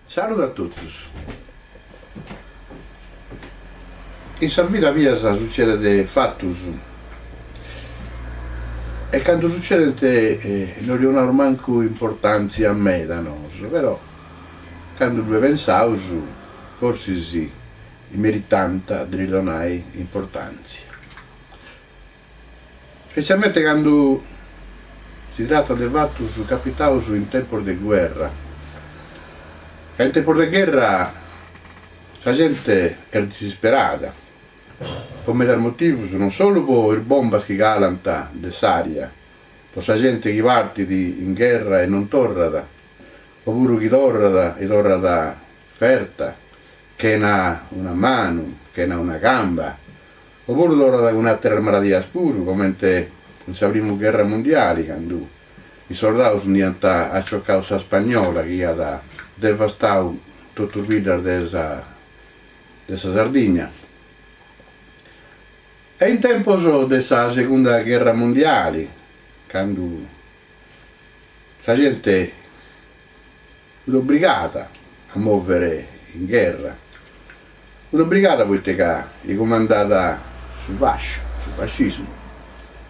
Saludu a totus. In sa vida mia sucedent fatus e candu sucedent no ddis 'onaus mancu importantzia meda nosu, però Candu ddue pensaus, forsis meritant de ddis donai importantzia, spetzialmente candu si tratat de fatus capitaus in tempus de guerra, ca in tempus de gherra sa genti est disisperada, po medas motivus, non solu po is bombas chi calant de s'ària, po sa genti chi partit in gherra e non torrat, o puru chi torrat e torrat ferta, chena una manu, chena una camba, o puru torrat cun àteras maladias puru, comente in sa primu gherra mundiali, candu is sordaus nd'aiant aciocau sa spagnola chi iat devastau totus biddas de sa de sa Sardigna. E in tempus de sa segunda gherra mundiali, candu Sa gente fut obrigada a mòvere in gherra, fut obrigada poite ca li cumandàt su fasciu, su fascismu,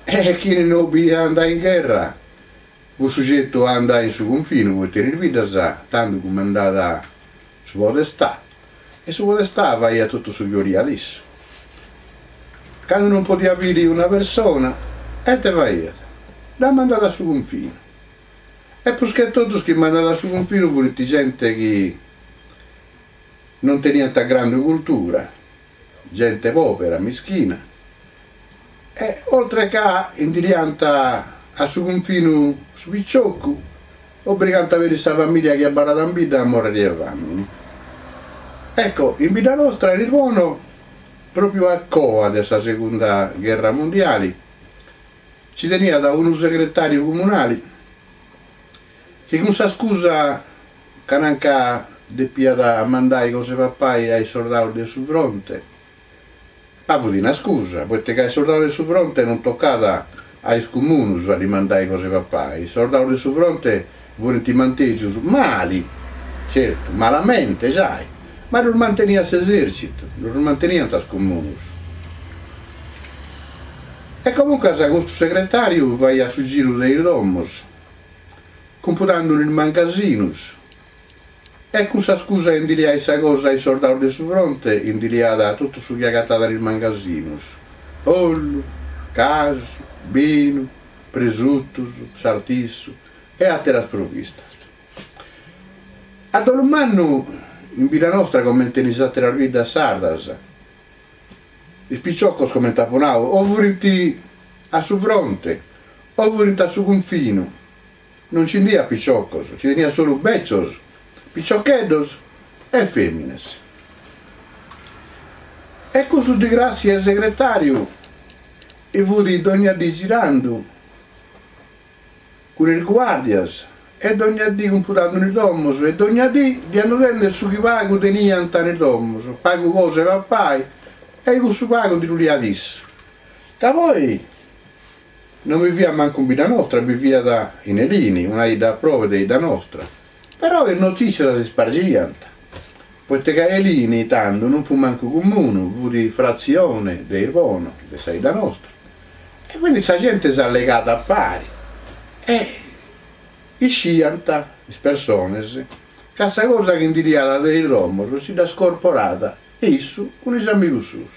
e chini no oliat a andai in gherra fut sugetu a andai in su cunfinu poite in is biddas tando cumandàt su podestà. E su podestà faiat totu su chi 'oliat issu. Candu non podiat biri una persona, e ite faiat? Dda mandàt a su cunfinu. E prus che totus chi mandàt a su cunfinu furint genti chi non teniant grandu cultura, Gente pòbera, mischina. E oltre ca intiriant a su cunfinu su piciocu, obrigant a beri sa famìlia chi abarrat a bidda a mòrriri 'e fami. Ecco, in bidda nostra est bonu, pròpiu a coa de sa segunda gherra mundiali, ci teniat unu segretàriu comunali chi cun sa scusa Ca nanca depiat mandai cosa 'e papai a is sordaus de su fronte. Ma fut una scusa, poite ca a is sordaus de su fronte non tocàt a is cumunus a ddi mandai cosa 'e papai. Is sordaus de su fronte furint mantegius mali, certu, malamente, sai, ma ddus manteniat s'esèrcitu, no ddus manteniant is cumunus. E comuncas custu segretàriu faiat su giru de is domus. Cumpudandu is mangasinus. E cun sa scusa ndi liai sa cosa a is sordaus de su fronte ndi liada totu su chi agatada in is mangasinus, ollu, casu, binu, presutus, sartissu e ateras provistas. A dolu mannu in bidda nostra comente in is ateras biddas sardas, is piciocos comente apu nau o furint a su fronte o furint a su confinu Non nci iat piciocos, nci teniat solu beccios, piciocheddos e fèminas. E custu Di Gràtzia su segretàriu i fut dònnia dì girandu cun is guàrdias e dònnia dì cumpudàndu in is domos e dònnia dì liandende su chi pagu teniant in is domos, pagu cosa 'e papai e cussu pagu ndi ddu liat issu. Da poi. No bi fiat mancu in bidda nostra, bi fiat in Elini, una 'idda a probe de 'idda nostra. Però is notìssias s'ispargiant, poite ca Elini tando non fut mancu cumunu, fut fratzione de Irbono, de sa 'idda nostra, e quindi sa gente s'allegàt a pari e isciant is persones ca sa cosa chi ndi liat de is domos si dda scorporàt issu cun is amigus suus.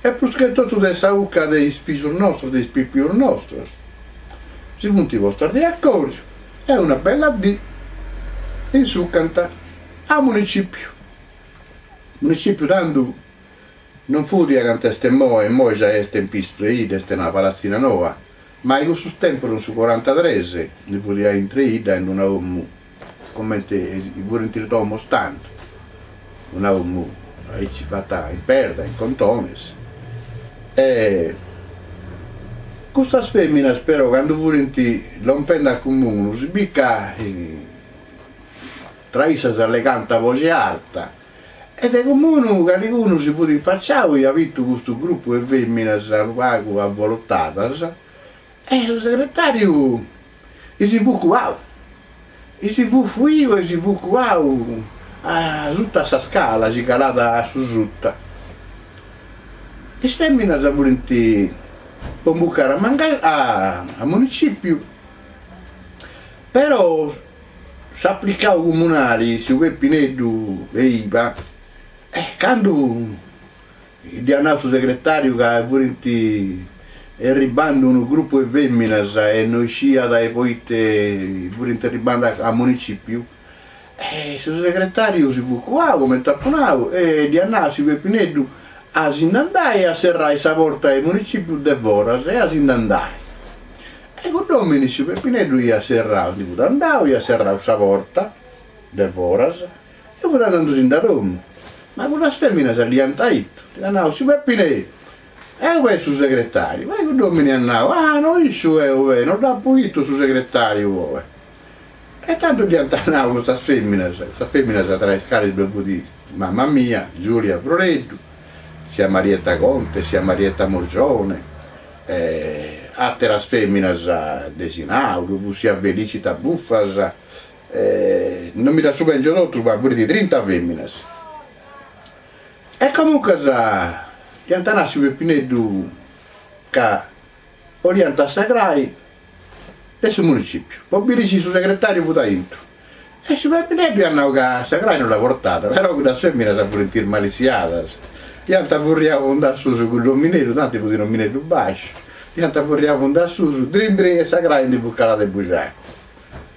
e prus che totu de sa 'ucca de is pisus nostros, de is pipius nostros, si funt postos de acòriu e una bella dì insucant a municipiu, municipiu tando non fut diai cantu est imoi, imoi giai est in pisu treidda, est in una palatzina noa, ma in cussus tempus in su corantatres ndi fut diai in treidda in una 'omu Comente furint is domos tando, una domu aici fata in perda, in contones, e custas feminas però candu furint lompende a cumunu si bi ca tra issas allegànt a boxi arta e de cumunu calicunu si fut infaciau e iat bitu custu grupu 'e feminas unu pagu avvolotadas E su segretàriu si fut cuau, si fut fuiu e si fut cuau asuta a sa scala si calat a su suta. Is fèminas furint po imbucare a a municìpiu, però s'apricau comunali, tziu Pepineddu, Leiba, e candu Dd'hiat nau su segretàriu ca furint erribbandu unu grupu 'e fèminas e no isciat e poite furint erribbandu a a municìpiu. E su segretàriu si fut cuau, comente apu nau, e dd'hiat nau a siu Pepineddu a si nd'andai a serrai sa porta 'e municìpiu de foras e a si nd'andai. E cudd'òmini su Pepineddu hiat serrau, si fut andau, hiat serrau sa porta de foras, E fut andandusinde a domu, ma cuddas feminas dd'iant ittu, dd'iant nau, siu Peppine', e ub'est su segretariu, poi cudd'omini at nau, ah, no isciu eo bene, no dd'apu ittu su segretariu oe. E tantu dd'iant nau custas feminas, custas feminas tra is calis ddue fut mama mia, Giulia Froreddu, sia Marietta Conte, sia Marietta Morgione, e ateras feminas de 'isinau, ddue fut sia Felicita Buffas, Non mi ddas subèngiu totus, ma furint trinta fèminas. E comuncas iant nau a siu Pepineddu ca 'oliant sa crai de su municìpiu, po biri si su segretàriu fut aintru. E siu Pepineddu iat nau ca sa crai no dda portàt, però cuddas fèminas furint ismalissiadas, iant furriau fundassusu cuddu omineddu, tanti fut un'omineddu bàsciu, iant furriau fundassusu, drin drin e sa crai ndi fut calada 'e buxaca.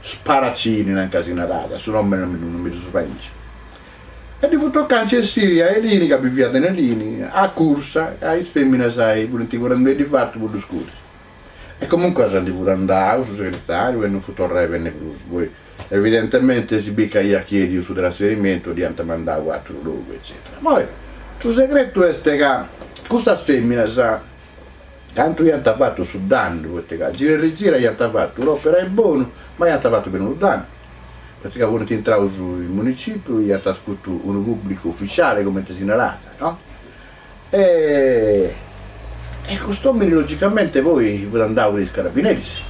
Sparacini nan ca si narada, su nomini non mi ddu mi ddu subengiu. E ddi fut tocau a c'essiri a Elini ca biviat in Elini, a cursa ca is feminas furinti currendiddi ifatu po ddu scuri. E comuncas si ndi fut andau su segretariu e non fut torrau a benni prus, poi evidentementi si bit ca iat chiediu su trasferimentu ddi iant mandau a aturu logu eccetera. Moi su segretu est ca custas feminas, Tantu iant fatu su dannu, poita ca gira e rigira iant fatu un'òpera 'e bonu, ma iant fatu peri unu dannu, poita ca funt intraus in municìpiu, iant iscutu unu pùblicu uficiale, cumenti si narat, no? E e cust'òmini logicamenti poi fut andau in is carabineris.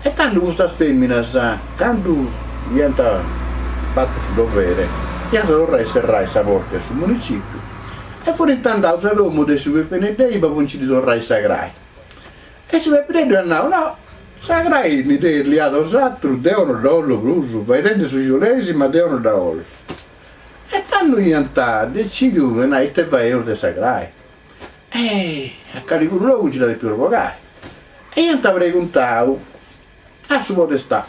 E tando custas fèminas, candu iant fatu su dovere, iant torrau a serrai sa porta de su municìpiu e furint andaus a domu de siu Pepineddu po nci ddi torrai sa crai. E siu Pepineddu iat nau, No, sa crai mi dd'eis liada 'osatrus, deu no dda 'ollu prus, faeidendi su chi 'oleis, ma deu no dda 'ollu. E tando iant decìdiu de nai ite faeus de sa crai. E a calicunu logu nci dda depius bogai. E iant preguntau a su podestà.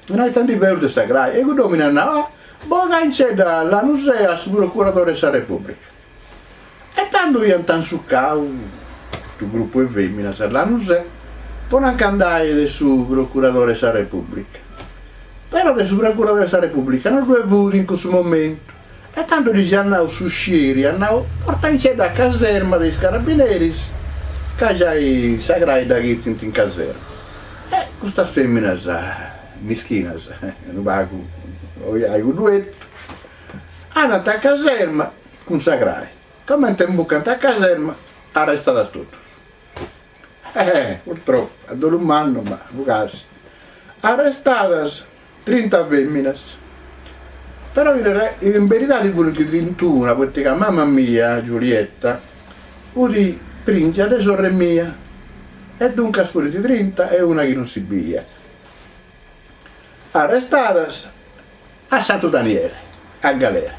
No, ita ndi feus de sa crai. E cudd'òmini at nau, Ah, Bogaincedda a Lanusè a su procuradori 'e sa Repùblica. E tando iant sucau custu grupu 'e fèminas, a Lanusè, po nanca andai de su procuradori 'e sa Repùblica. Però de su procuradori 'e sa Repùblica no ddue fut in cussu momentu. E tando ddis at nau s'uscieri, at nau, Portaincedda a caserma de is carabineris, ca giai sa crai dda chistint in caserma. E custas feminas mischinas, unu pagu ojai cuddu etu, andant a caserma cun sa crai. Comente imbucant a caserma, arrestadas totus. Ehè, purtropu, a dolu mannu, ma fut gasi. Arrestadas trinta feminas. Però in re, in beridadi funt trintuna, poita ca mama mia, Giulietta, fut pringia de sorre mia, e duncas funt trinta e una chi non si biiat. Arrestadas a Santu Daniele, a galera.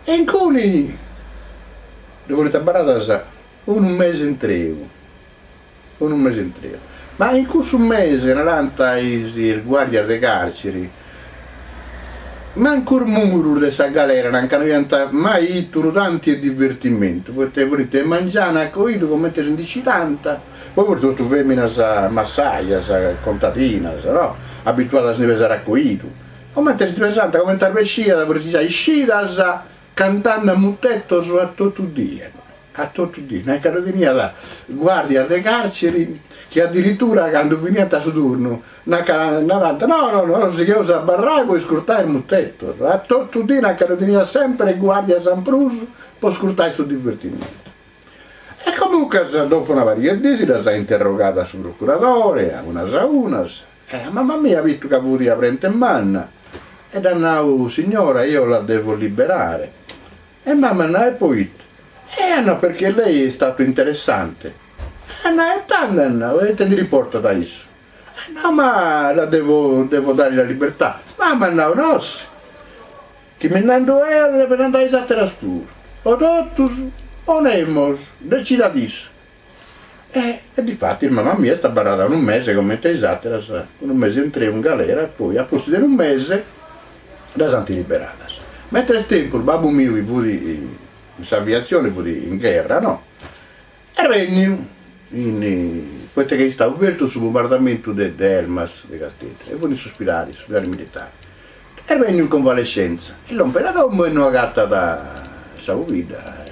E incuni ddu funt abarradas Unu mese intreu. Unu mese intreu. Ma in cussu mese, narant is guàrdias de càrciri, mancu is murus de sa galera non nche ant mai bitu tanti e divertimentu, poita funt de mangianu a coidu comente si ndi scidant, poi funt totus fèminas massajas, contadinas, no, abituadas a ndi pesare a coidu, comente si ndi pesant, comente arbesciat, funt giai iscidas, Cantende a mutetos a totu die, a totu die, nanca ddu teniat guardias de carceri chi adiritura cando finiant su turnu narant no no nosu sigheus a abarrai po iscurtai mutetos, a totu die, nanca ddu teniat sempre guardias in prus po iscurtai su divertimentu. E comuncas dopo una pariga e dies ddas at interrogadas su procuradore a unas a unas, E a mamma mia vitu ca fut a brente manna e dd'at nau, Signora, io la devo liberare. E mamma at nau, E poita? E at nau, Perchè lei è in stato interessante. E at nau, E tando, at nau, e ite ndi dd'importat a issu? At nau, Ma la devo, devo dare la libertà. Mamma at nau, Nossi, chi mi nd'ando eo, depent andai is àteras puru. O totus o nemos, decidat issu. E difatis mama mia est abarrada unu mese comente a is àteras, unu mese intreu in galera e poi a pustis de unu mese ddas ant liberadas. Ma intre tempus babbu miu chi fut in s'aviatzioni fut in gherra, no, est bènniu in, poita chi est istadu fertu su bumbardamentu de Elmas de Casteddu e fut in s'uspidali, in s'uspidali militari, est bènniu in convalescenza e lompet a domu e no agatat sa pobidda e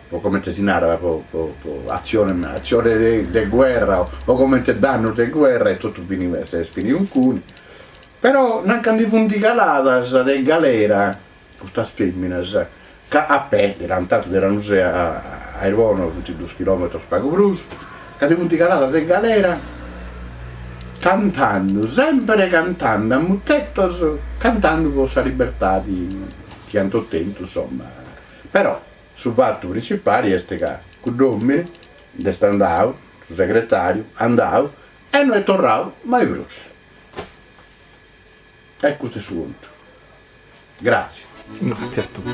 po comente si narat po po po atzione atzione de guerra o comente dannus de guerra e totu fini s'est fini uncuni, però nanc'a ndi funt caladas de galera custas feminas ca a pè de Lanusè a a Irbono funt dus chilometros pagu prus, ca ndi funt caladas de galera cantandu sempre cantandu a mutetos cantandu po sa libertadi chi ant ottentu insomma, però Su fatu principali est ca cudd'òmine nd'est andau, su segretàriu, andau e no est torradu mai prus. E custu est su contu. Gràtzias. Gràtzias a tue.